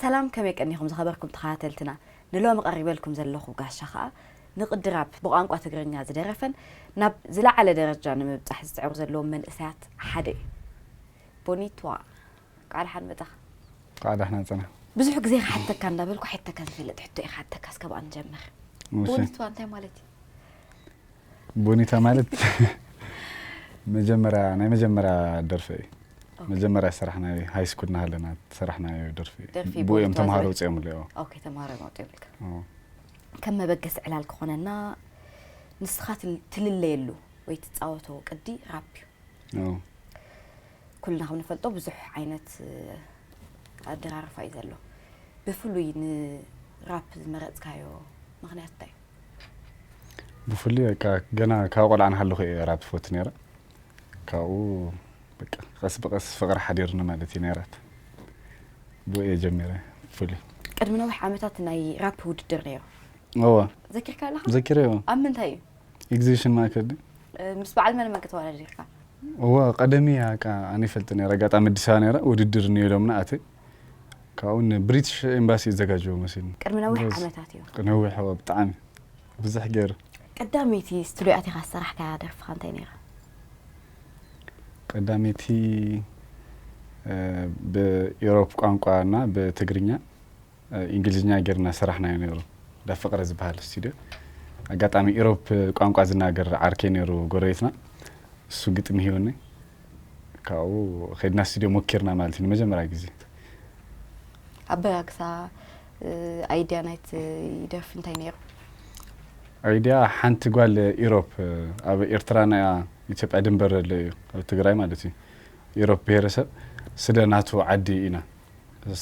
ሰላም ከመይ ቀኒኹም ዝኸበርኩም ተኸታተልትና ንሎሚ ቀሪበልኩም ዘለኹ ጋሻ ኸኣ ንቕድራብ ብቋንቋ ትግርኛ ዝደረፈን ናብ ዝለዓለ ደረጃ ንምብጻሕ ዝጽዕሩ ዘለዎም መንእሰያት ሓደ እዩ ቦኒትዋ ቃል ሓን መጻኻ ቃል ሓን ጽና ብዙሕ ግዜ ክሓተካ እንዳበልኩ ሓተካ ዝፈልጥ ሕቶ እዩ ክሓተካ እስከ ብኣን ጀምር ቦኒቷ እንታይ ማለት እዩ ቦኒታ ማለት መጀመርያ ናይ መጀመርያ ደርፊ እዩ መጀመርያ ሰራሕናዮ ሃይ ስኩል ናሃለና ሰራሕናዮ ደርፊ ብኡ እዮም ተምሃሮ ውፅኦምሉ ተምሃሮ ወፅኦምልካ ከም መበገሲ ዕላል ክኾነና ንስኻ ትልለየሉ ወይ ትፃወቶ ቅዲ ራፕ እዩ ኩልና ከም ንፈልጦ ብዙሕ ዓይነት ኣደራርፋ እዩ ዘሎ። ብፍሉይ ንራፕ ዝመረጽካዮ ምክንያት እንታይ እዩ? ብፍሉይ በቃ ገና ካብ ቆልዓ ንሃለኹ እየ ራፕ ዝፈቱ ነይረ። ካብኡ በቃ ቀስ ብቀስ ፍቅሪ ሓዲርኒ ማለት እዩ ናይ ራፕ ብኡ እየ ጀሚረ ብፍሉይ። ቅድሚ ነዊሕ ዓመታት ናይ ራፕ ውድድር ነይሩ እወ ዘኪርካ ኣለኻ? ዘኪረ እወ። ኣብ ምንታይ እዩ? ኤግዚቢሽን ማእከል ድዩ? ምስ በዓል መን መን ከተወዳዲርካ? እወ ቀደም እያ እካ ኣነ ይፈልጥ ነረ ኣጋጣሚ ኣዲስ ኣበባ ነረ ውድድር እኒኦ ኢሎምና ኣተ ካብኡ ንብሪትሽ ኤምባሲ ይዘጋጀዎ መሲልኒ ቅድሚ ነዊሕ ጎበዝ። ዓመታት እዩ። ነዊሕ እወ ብጣዕሚ ብዙሕ ገይሩ ቀዳመይቲ ስቱድዮ ኣቲኻ ዝሰራሕካያ ደርፊ ከ እንታይ ነይራ? ቀዳመይቲ እ፣ ብኢሮፕ ቋንቋ እና ብትግርኛ ኢንግሊዝኛ ጌርና ሰራሕናዮ ነይሩ እንዳ ፍቅረ ዝበሃል ስቱድዮ ኣጋጣሚ ኢሮፕ ቋንቋ ዝናገር ዓርከይ ነይሩ ጎረቤትና እሱ ግጥሚ ሂወኒ ካብኡ ከድና ስቱድዮ ሞኪርና ማለት እዩ ንመጀመርያ ግዜ ኣበጋግሳ ኣይድያ ናይቲ ይደርፊ እንታይ ነይሩ ኣይድያ ሓንቲ ጓል ኢሮፕ ኣብ ኤርትራ ናይ ኢትዮጵያ ድንበር ኣሎ እዩ ኣብ ትግራይ ማለት እዩ ኢሮፕ ብሄረሰብ ስለ ናቱ ዓዲ ኢና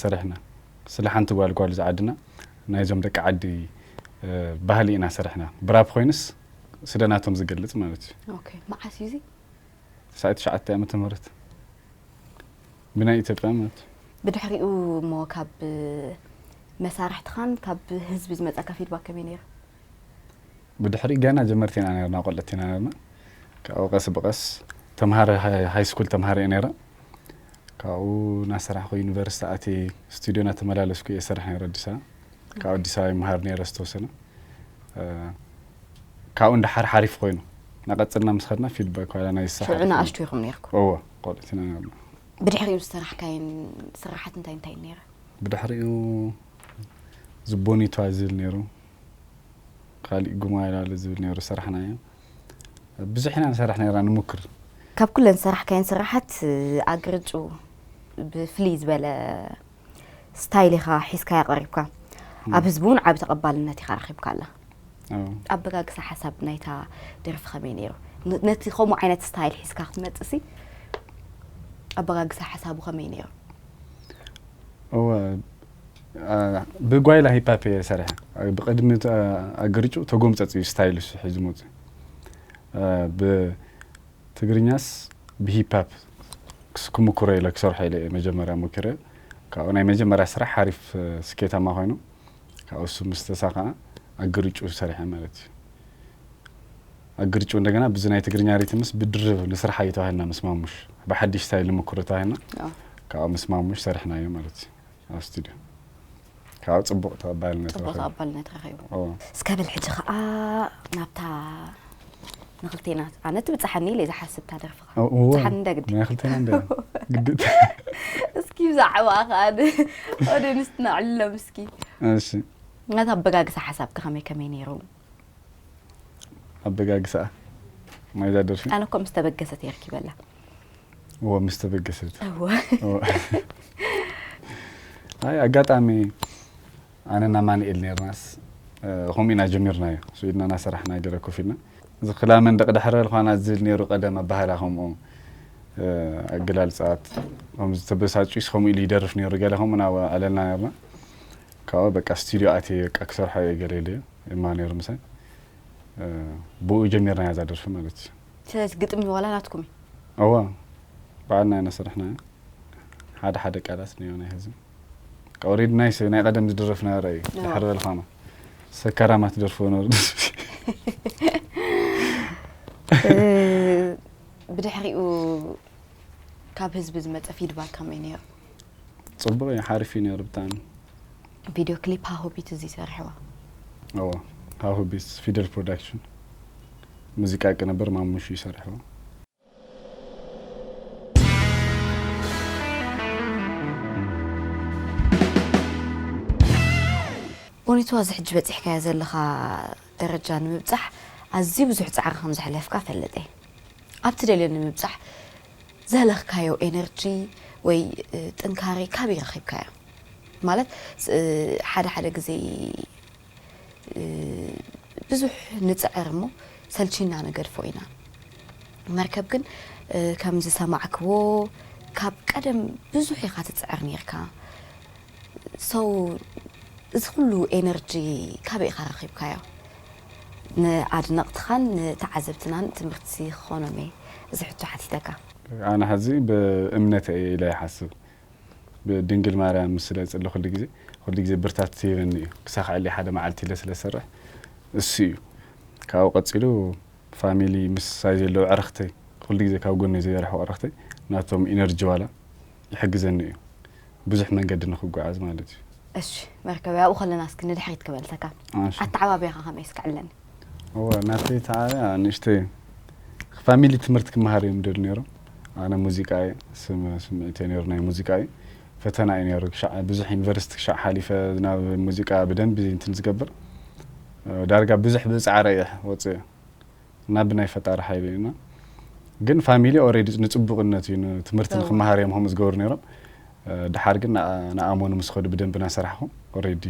ሰሪሕና ስለ ሓንቲ ጓል ጓል እዚ ዓድና ናይዞም ደቂ ዓዲ ባህሊ ኢና ሰሪሕና ብራፕ ኮይንስ ስለ ናቶም ዝገልጽ ማለት እዩ ኦኬ መዓስ እዩ እዚ ትስዓት ትሽዓተ ዓመተ ምህረት ብናይ ኢትዮጵያ ማለት እዩ ብድሕሪኡ እሞ ካብ መሳርሕትኻን ካብ ህዝቢ ዝመፀካ ፊድባክ ከመይ ነይሩ ብድሕሪ ገና ጀመርቲ ኢና ነርና ቆልዕት ኢና ነርና ካብኡ ቀስ ብቀስ ተምሃረ ሃይ ስኩል ተምሃረ እየ ነረ ካብኡ ናሰራሕኩ ዩኒቨርስቲ ኣትየ ስቱድዮ ናተመላለስኩ እየ ዝሰርሕ ነይረ ኣዲስ ኣበባ ካብ ኣዲስ ኣበባ ይመሃር ነይረ ዝተወሰነ ካብኡ እንዳሓር ሓሪፍ ኮይኑ ናቀፅልና ምስ ኸድና ፊድባክ ዋላ ናይ ስራሕ ሽዑ ንኣሽቱ ኢኹም ነርኩም እወ ቆልዑት ኢና ነርና ብድሕሪኡ ዝሰራሕካየን ስራሓት እንታይ እንታይ ነይረ ብድሕሪኡ ዝቦኒቷ ዝብል ነይሩ ካሊእ ጉማላለ ዝብል ነይሩ ሰራሕናዮ ብዙሕ ኢና ንሰርሕ ነይርና ንሙክር። ካብ ኩለን ዝሰራሕካየን ስራሓት ኣግርጩ ብፍልይ ዝበለ ስታይል ኢኻ ሒዝካያ ቀሪብካ ኣብ ህዝቢ እውን ዓቢ ተቐባልነት ኢኻ ረኺብካላ ኣበጋግሳ ሓሳብ ናይታ ደርፊ ከመይ ነይሩ ነቲ ከምኡ ዓይነት ስታይል ሒዝካ ክትመጽእሲ ኣበጋግሳ ሓሳቡ ከመይ ነይሩ እወ ብጓይላ ሂፓፕ እየ ሰርሐ ብቅድሚ ኣገርጩ ተጎምፀፅ እዩ ስታይል እሱ ሒዙ መፅኡ ብትግርኛስ ብሂፓፕ ክምኩሮ ኢለ ክሰርሖ ኢለ እየ መጀመርያ ሞኪረ ካብኡ ናይ መጀመርያ ስራሕ ሓሪፍ ስኬታማ ኮይኑ ካብኡ እሱ ምስ ተሳኸዐ ኣገርጩ ሰርሐ ማለት እዩ ኣግርጩ እንደገና ብዚ ናይ ትግርኛ ሪትምስ ብድርብ ንስራሕ እዩ ተባሂልና ምስ ማሙሽ ብሓዲሽ ስታይል ንምክሮ ተባሂልና ካብኡ ምስ ማሙሽ ሰርሕናዮ ማለት እዩ ኣብ ስቱድዮ ካብኡ ፅቡቕ ተቐባልነት ፅቡቕ ረኺቡ ተቐባልነት ረኺቡ ኦ፣ እስከ በል ሕጂ ከዓ ናብታ ንክልቴና ኣነ ትብፅሓኒ ኢለ ዝሓስብ እታ ደርፍኻ ኦ፣ እወ፣ ብፅሓኒ እንደ ግዲ ናይ ክልተና እንደ ግድት እስኪ ብዛዕባ ከዓ ኦዲየንስ ትነዕልሎም እስኪ እሺ ናታ ኣበጋግሳ ሓሳብካ ከመይ ከመይ ነይሩ ኣበጋግሳኣ ማይዛ ደርፊ ኣነ እኮ ምስ ተበገሰት እየ ረኪበላ እዎ ምስ ተበገሰት እወ እዎ። ኣይ ኣጋጣሚ ኣነና ማንኤል ነርናስ ከምኡ ኢና ጀሚርናዮ ሱ ኢድና ናሰራሕና ገለ ኮፍ ኢልና እዚ ክላ መንደቕ ድሕረ ልኳና ዝብል ነይሩ ቀደም ኣባህላ ከምኡ እ፣ ኣገላልፃት ከምዚ ተበሳጭዩስ ከምኡ ኢሉ ይደርፍ ነይሩ ገለ ከምኡ ኢና ኣለና ነርና ካብኡ በቃ ስቱድዮ ኣትየ በቃ ክሰርሖ እየ ገለ ኢለዮ እማ ነይሩ ምሳይ ብኡ ጀሚርናያ እዛ ደርፊ ማለት እዩ ስለዚ ግጥሚ ዋላ ናትኩም እዩ እዋ ባዕልና ኢና ስርሕናያ ሓደ ሓደ ቃላት እኒኦ ናይ ህዝቢ ካብኡ ሬድ ናይ ሰብ ናይ ቀደም ዝድረፍና ራእዩ ድሕሪ በልኻና ሰካራማ ትደርፍዎ ነሩ ብድሕሪኡ ካብ ህዝቢ ዝመፀ ፊድባክ ከመይ ነይሩ ጽቡቅ እዩ ሓሪፍ እዩ ነይሩ ብጣዕሚ። ቪድዮ ክሊፕ ሃሁ ቢትስ ድዩ ሰሪሕዋ? እዎ ሃሁ ቢትስ ፊደል ፕሮዳክሽን ሙዚቃ ቅንብር ማሙሽ እዩ ሰሪሕዎ። ቦኒቱ ኣዚ ሕጂ በጺሕካዮ ዘለኻ ደረጃ ንምብጻሕ ኣዝዩ ብዙሕ ጻዕሪ ከም ዘሕለፍካ እፈልጥ እየ። ኣብ ትደልዮ ንምብጻሕ ዘለካዮ ኤነርጂ ወይ ጥንካሬ ካበይ ረኪብካዮ ማለት ሓደ ሓደ ግዜ ብዙሕ ንጽዕር እሞ ሰልቺና ንገድፎ ኢና መርከብ ግን ከም ዝሰማዕክዎ ካብ ቀደም ብዙሕ ኢካ ትጽዕር ኔርካ so እዚ ኩሉ ኤነርጂ ካበይ ኢካ ረኪብካዮ። ንኣድነቕትኻን ንተዓዘብትናን ትምህርቲ ክኾኖም እየ እዚ ሕቶ ሓቲተካ። ኣነ ሐዚ ብእምነተይ እየ ኢለ ይሓስብ ብድንግል ማርያም ምስ ስለ እጽሊ ኩሉ ግዜ ኩሉ ግዜ ብርታት ትሂበኒ እዩ ክሳኽዐለይ ሓደ መዓልቲ ኢለ ስለ ዝሰርሕ እሱ እዩ ካብኡ ቀጺሉ ፋሚሊ ምሳይ ዘለዉ ኣዕርኽተይ ኩሉ ግዜ ካብ ጎነይ ዘየርሕቁ ኣዕርኽተይ ናቶም ኢነርጂ ዋላ ይሕግዘኒ እዩ ብዙሕ መንገዲ ንክጓዓዝ ማለት እዩ እሺ መርከበይ ኣብኡ ከለና እስኪ ንድሕሪት ክመልሰካ እሺ። ኣተዓባብያኻ ከመይ እስኪ ዕለኒ እወ ናተይ ተዓብያ ንእሽተይ ፋሚሊ ትምህርቲ ክመሃር እዮም ደል ነይሮም ኣነ ሙዚቃ እየ ስም- ስምዒት እየ ነይሩ ናይ ሙዚቃ እዩ ፈተና እዩ ነይሩ ክሻዕ ብዙሕ ዩኒቨርሲቲ ክሻዕ ሓሊፈ ናብ ሙዚቃ ብደንቢ እንትን ዝገብር እ፣ ዳርጋ ብዙሕ ብፃዕረ እየ ወፅየ እና ብናይ ፈጣሪ ሓይሊ እዩ እና ግን ፋሚሊ ኦልሬዲ ንፅቡቅነት እዩ ንትምህርቲ ንክመሃር እዮም ከምኡ ዝገብሩ ነይሮም ድሓር ግን ንኣመኑ ምስ ኸዱ ብደንቢ ናሰራሕኹ ኦልሬዲ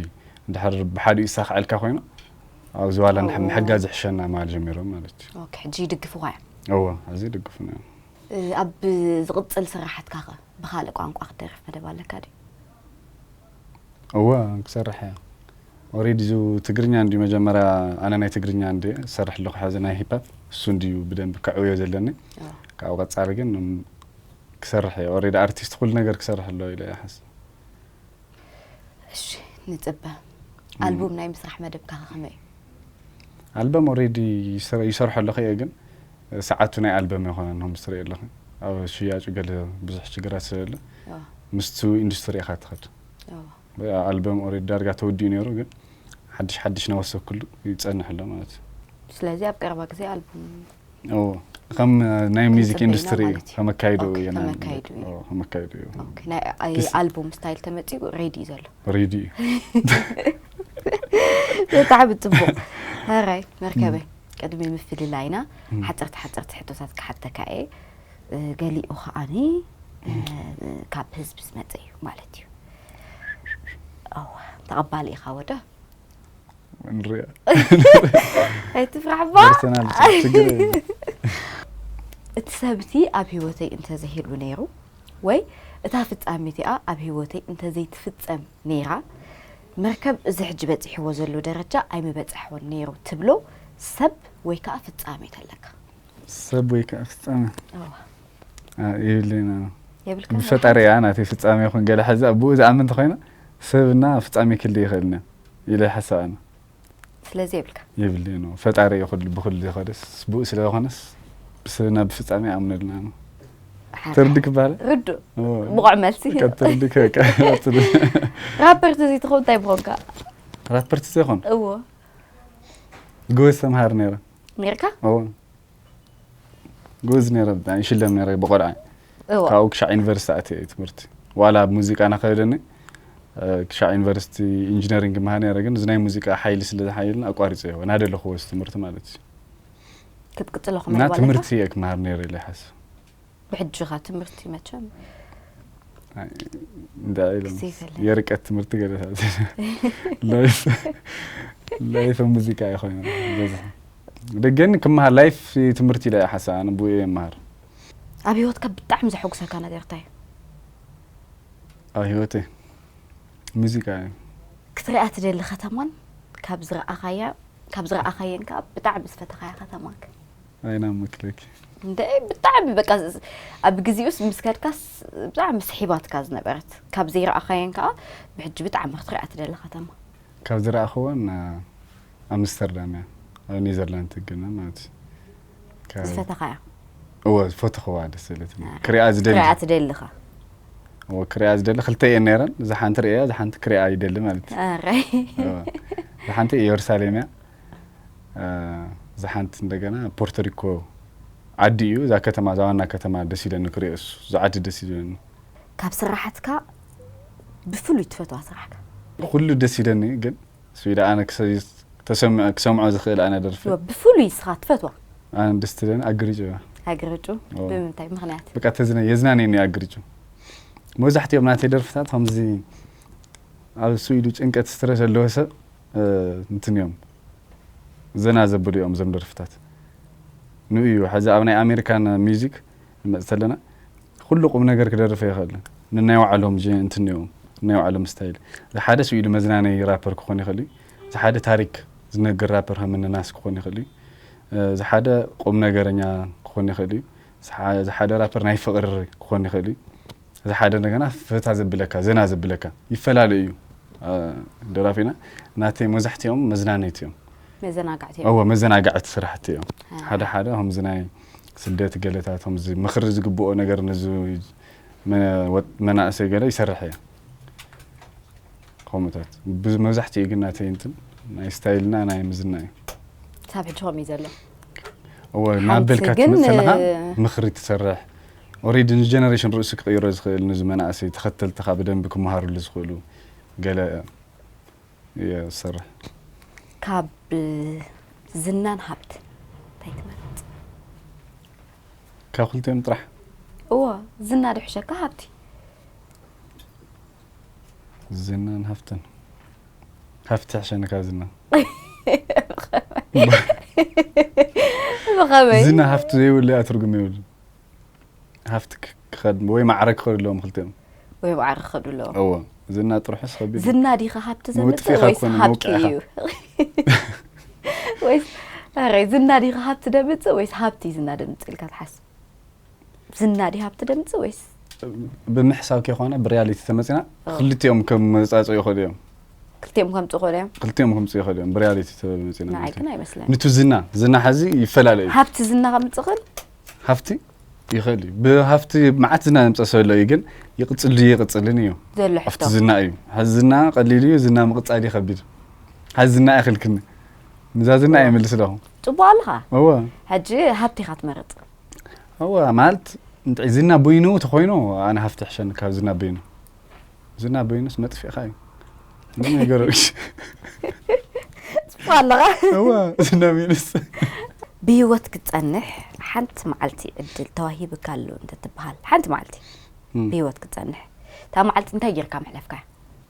እንድሕር ብሓዲኡ ይሳኽዐልካ ኮይኑ ኣብዚ ዋላ ምሕጋዝ ይሕሸና ምባል ጀሚሮም ማለት እዩ ሕጂ ይድግፍኻ እዮም እዎ ሕዚ ይድግፉና እዮም ኣብ ዝቕፅል ስራሓትካ ኸ ብኻልእ ቋንቋ ክትደርፍ መደብ ኣለካ ድዩ እወ ክሰርሕ እየ ኦሬዲ እዚ ትግርኛ እንድዩ መጀመርያ ኣነ ናይ ትግርኛ እንድየ ዝሰርሕ ኣለኹ ሕዚ ናይ ሂፓፕ እሱ እንድዩ ብደንቢ ከዕውዮ ዘለኒ ካብኡ ቀፃሊ ግን ክሰርሕ እየ ኦሬዲ ኣርቲስት ኩሉ ነገር ክሰርሕ ኣለዎ ኢለ ይሓስብ እሺ ንፅበ ኣልቡም ናይ ምስራሕ መደብካ ከመይ እዩ ኣልበም ኦሬዲ ይሰርሖ ኣለኹ እየ ግን ሰዓቱ ናይ ኣልበም ኣይኮነን ሆም ትርኢ ኣለኺ ኣብ ሽያጩ ገለ ብዙሕ ሽግራት ስለለ ምስቲ ኢንዱስትሪ ኢኻ ትኸድ ኣልበም ኦሬዲ ዳርጋ ተወዲኡ ነይሩ ግን ሓድሽ ሓድሽ ናወሰኩሉ ይጸንሕ ኣሎ ማለት እዩ ስለዚ ኣብ ቀረባ ግዜ ኣልበም ከም ናይ ሚዚክ ኢንዱስትሪ እዩ ከመካይዱ እዩ ከመካይዱ እዩ ናይ ኣልቡም ስታይል ተመጺኡ ሬዲ እዩ ዘሎ ሬዲ እዩ ብጣዕሚ ጽቡቕ ራይ መርከበይ ቅድሚ ምፍልላይና ሓጸርቲ ሓጸርቲ ሕቶታት ክሓተካ እየ ገሊኡ ከዓኒ ካብ ህዝቢ ዝመፀ እዩ ማለት እዩ ኣወ ተቐባሊ ኢኻ ወደ ንሪኣ ኣይትፍራሕባ ደርሰናል ችግር የለን። እቲ ሰብ እቲ ኣብ ህይወተይ እንተዘይህሉ ነይሩ ወይ እታ ፍጻሜ እቲኣ ኣብ ህይወተይ እንተዘይትፍጸም ነይራ መርከብ እዚ ሕጂ በጺሕዎ ዘሎ ደረጃ ኣይምበጸሕዎን ነይሩ ትብሎ ሰብ ወይ ከኣ ፍጻሜ ተለካ? ሰብ ወይ ከኣ ፍጻሜ እወ። ኣይ የብለይን ኣነ። የብልካን? ብፈጣሪ እያ ናተይ ፍጻሜ ይኹን ገለ ሕዚ ብኡ ዝኣምን እንተኾይነ ሰብ እና ፍጻሜ ክልይ ይኽእልን እዮ ኢለ ይሓስብ ኣነ። ስለዚ የብልካ። የብለይን እዎ ፈጣሪ እየ ኩሉ ብኩሉ ዘኮደስ ስቡእ ስለ ዘኮነስ ብስብና ብፍጻሜ ኣምነልና ነው ትርዲ ክባለ ርዱ ብቑዕ መልሲ ትርዲ ራፐርቲ እዚ ትኸውን እንታይ ምኾንካ ራፐርቲ ዘይኮን እዎ ጎበዝ ተምሃር ነይረ ነርካ እዎ ጎበዝ ነረ ብጣዕሚ ይሽለም ነረ ብቆልዓ እወ ካብኡ ክሻዕ ዩኒቨርሲቲ ኣትየ እዩ ትምህርቲ ዋላ ኣብ ሙዚቃ ናኸደኒ ክሻዕ ዩኒቨርሲቲ ኢንጂነሪንግ መሃር ነረ ግን እዚ ናይ ሙዚቃ ሓይሊ ስለ ዝሓየልና ኣቋሪፀዮ ናደለኹዎ እዚ ትምህርቲ ማለት እዩ ክትቅፅሎ እና ክመልዋለካ ትምህርቲ እየ ክመሃር ነረ ኢለ ይሓስብ ብሕጂኻ ትምህርቲ መቸም እንታይ ኢሎም ግዜ ገለ። የርቀት ትምህርቲ ገለታት ላይፍ ላይፍ ሙዚቃ እዩ ኮይኑ በዚ ደገን ክመሃር ላይፍ ትምህርቲ ኢለ እየ ሓሳብ ኣነ ብኡ እየ መሃር ኣብ ህይወትካ ብጣዕሚ ዘሐጉሰካ ነገር እንታይ እዩ ኣብ ህይወተይ ሙዚቃ እዩ ክትሪኣ ትደሊ ከተማን ካብ ዝረኣኻያ ካብ ዝረኣኻየን ከዓ ብጣዕሚ ዝፈተኻያ ከተማክ ኣይና ምክርኪ። እንድዒ ብጣዕሚ በቃ ኣብ ግዜኡስ ምስ ከድካስ ብጣዕሚ ስሒባትካ ዝነበረት ካብ ዘይረኣኻየን ከኣ ብሕጂ ብጣዕሚ ክትሪኣ ትደሊ ከተማ። ካብ ዝረኣኽወን ኣምስተርዳም እያ ኣብ ኔዘርላንድ ትግነ ማለት እዩ። ካብ- ዝፈተኻያ እወ ዝፈተኽዋ ደስ ዘለትኒ ክሪኣ ዝደሊ ክትሪኣ ትደልኻ እወ ክሪኣ ዝደሊ ክልተ እየን ነይረን እዛ ሓንቲ ርእያ እዛ ሓንቲ ክሪኣ ይደሊ ማለት እዩ ኣራይ እወ። እዛ ሓንቲ ኢየሩሳሌም እያ እዛ ሓንቲ እንደገና ፖርቶሪኮ ዓዲ እዩ እዛ ከተማ እዛ ዋና ከተማ ደስ ኢለኒ ክሪኦስ እዛ ዓዲ ደስ ኢለኒ ካብ ስራሓትካ ብፍሉይ ትፈትዋ ስራሕካ ኩሉ ደስ ኢለኒ ግን ስቢዳ ኣነ ተሰምዐ ክሰምዖ ዝኽእል ኣነ ደርፊ ብፍሉይ ስኻ ትፈትዋ ኣነ ደስ ትለኒ ኣግርጩ እያ ኣግርጩ ብምንታይ ምክንያት በቃ ተዝነ የዝናነኒ ኣግርጩ መብዛሕትኦም ናተይ ደርፍታት ከምዚ ኣብ ስኢዱ ጭንቀት ስትረስ ዘለዎ ሰብ እንትን እዮም ዘና ዘብሉ እዮም እዞም ደርፍታት ንኡ እዩ ሕዚ ኣብ ናይ ኣሜሪካን ሚዚክ ንመፅ ተለና ኩሉ ቁም ነገር ክደርፍ ኣይኽእልን ንናይ ባዕሎም ጀ እንትን እዮም ናይ ባዕሎም ስታይል ዝሓደ ስኢሉ መዝናነይ ራፐር ክኾን ይኽእል እዩ ዝሓደ ታሪክ ዝነግር ራፐር ከምኒ ናስ ክኾን ይኽእል እዩ ዝሓደ ቁም ነገረኛ ክኾን ይኽእል እዩ እዚ ሓደ ራፐር ናይ ፍቅሪ ክኾን ይኽእል እዩ እዚ ሓደ እንደገና ፈታ ዘብለካ ዘና ዘብለካ ይፈላለ እዩ ደራፊና ናተይ መብዛሕትኦም መዝናነይቲ እዮም መዘናጋዕቲ እዮም እዎ መዘናጋዕቲ ስራሕቲ እዮም ሓደ ሓደ ከምዚ ናይ ስደት ገለታት ከምዚ ምኽሪ ዝግብኦ ነገር ነዚ መ- ወጥ- መናእሰይ ገለ ይሰርሕ እየ ከምኡታት መብዛሕትኡ ግን ናተይ እንትን ናይ ስታይልና ናይ ምዝና እዩ ክሳብ ሕጂ ከምኡ እዩ ዘሎ እወ ናበልካ ትመፅእ ኣለኻ ምኽሪ ትሰርሕ ኦሬዲ ንጀነሬሽን ርእሱ ክቕይሮ ዝኽእል ንዚ መናእሰይ ተኸተልትኻ ብደንቢ ክመሃርሉ ዝኽእሉ ገለ እየ ዝሰርሕ ካብ ዝናን ሃብት እንታይ ትመርፅ ካብ ክልቲኦም ጥራሕ እዎ ዝና ድሕሸካ ሃብቲ ዝናን ሃፍትን ሃፍቲ ትሕሸኒ ካብ ዝና ብኸመይ ዝና ሃፍቲ ዘይብሉ እያ ትርጉም ይብሉ ሃፍቲ ክኸድ ወይ ማዕረ ክኸዱ ኣለዎም ክልቲኦም ወይ ማዕረ ክኸዱ ኣለዎም እዎ ዝና ጥርሑስ ከቢድ ዝና ዲኻ ሃብቲ ዘምፅእ ወይስ ሃብቲ እዩ ወይስ ዝና ዲኻ ሃብቲ ደምፅእ ወይስ ሃብቲ ዝና ደምፅእ ኢልካ ትሓስብ ዝና ድዩ ሃብቲ ድምፂ ወይስ ብምሕሳብ ከይኮነ ብሪያሊቲ ተመፂና ክልቲኦም ከምፃፅኡ ይኽእሉ እዮም ክልቲኦም ከምፁ ይኽእሉ እዮም ክልቲኦም ከምፁ ይኽእሉ እዮም ብሪያሊቲ ተመፂና ንዓይ ግን ኣይመስለኒ ንቱ ዝና ዝና ሓዚ ይፈላለ እዩ ሃብቲ ዝና ከምፅ ይኽእል ሃፍቲ ይኽእል እዩ ብሃፍቲ መዓት ዝና ዘምፀ ሰሎ እዩ ግን ይቕፅል ድዩ ይቕፅልን እዩ ዘሎ ኣብቲ ሕቶ ዝና እዩ ሓዚ ዝና ቀሊል እዩ ዝና ምቕፃል እዩ ከቢድ ሓዚ ዝና ኣይኽልክኒ ንዛ ዝና እየ መልስ ኣለኹ ፅቡቅ ኣለኻ እወ ሕጂ ሃብቲ ኢኻ ትመርፅ እወ ማለት እንታይ ዝና በይኑ ተኾይኑ ኣነ ሃፍቲ ይሕሸኒ ካብ ዝና በይኑ ዝና በይኑስ መጥፊእኻ እዩ ምንም ነገሮች ጽፎ ኣለኻ እወ ዝና በይኑስ ብህይወት ክትጸንሕ ሓንቲ መዓልቲ ዕድል ተዋሂብካ ኣሎ እንተትበሃል ሓንቲ መዓልቲ ብህይወት ክትጸንሕ እታ መዓልቲ እንታይ ጌርካ ምሕለፍካ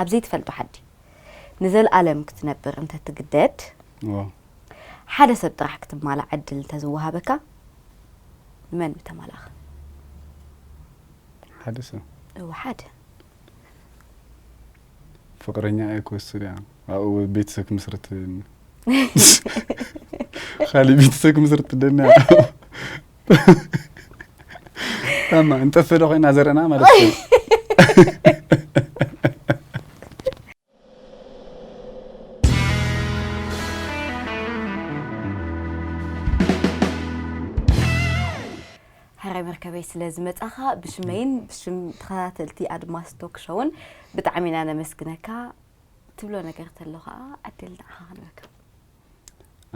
ኣብ ዘይትፈልጦ ዓዲ ንዘልኣለም ክትነብር እንተ ትግደድ፣ ዋው ሓደ ሰብ ጥራሕ ክትማላእ ዕድል እንተ ዝወሃበካ ንመን ምተማላእኻ? ሓደ ሰብ እወ ሓደ። ፍቅረኛ እየ ክወስድ እያ ኣብኡ ቤተሰብ ክምስርት ትደኒ ካሊእ ቤተሰብ ክምስርት ትደኒ እያ ታማ እንጠፍ ዶ ኮይና ዘርእና ማለት እዩ ሕራይ መርከበይ ስለ ዝመጻኻ ብሽመይን ብሽም ተኸታተልቲ ኣድማስ ቶክ ሾውን ብጣዕሚ ኢና ነመስግነካ ትብሎ ነገር ተሎ ከዓ ዕድል ንዓኻ ክንረክብ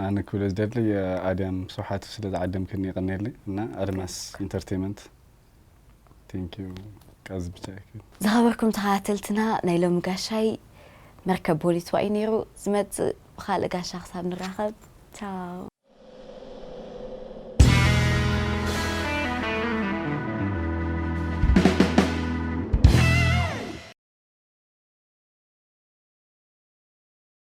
ኣነ ክብሎ ዝደሊ ኣድያም ስብሓቱ ስለ ዝዓደምክኒ ይቀኔሊ እና ኣድማስ ኢንተርቴመንት ቴንክ ዩ ቃዝ ብቻ ይክል ዝኸበርኩም ተኸታተልትና ናይ ሎሚ ጋሻይ መርከብ ቦሊትዋ እዩ ነይሩ ዝመጽእ ብካልእ ጋሻ ክሳብ ንራኸብ ቻው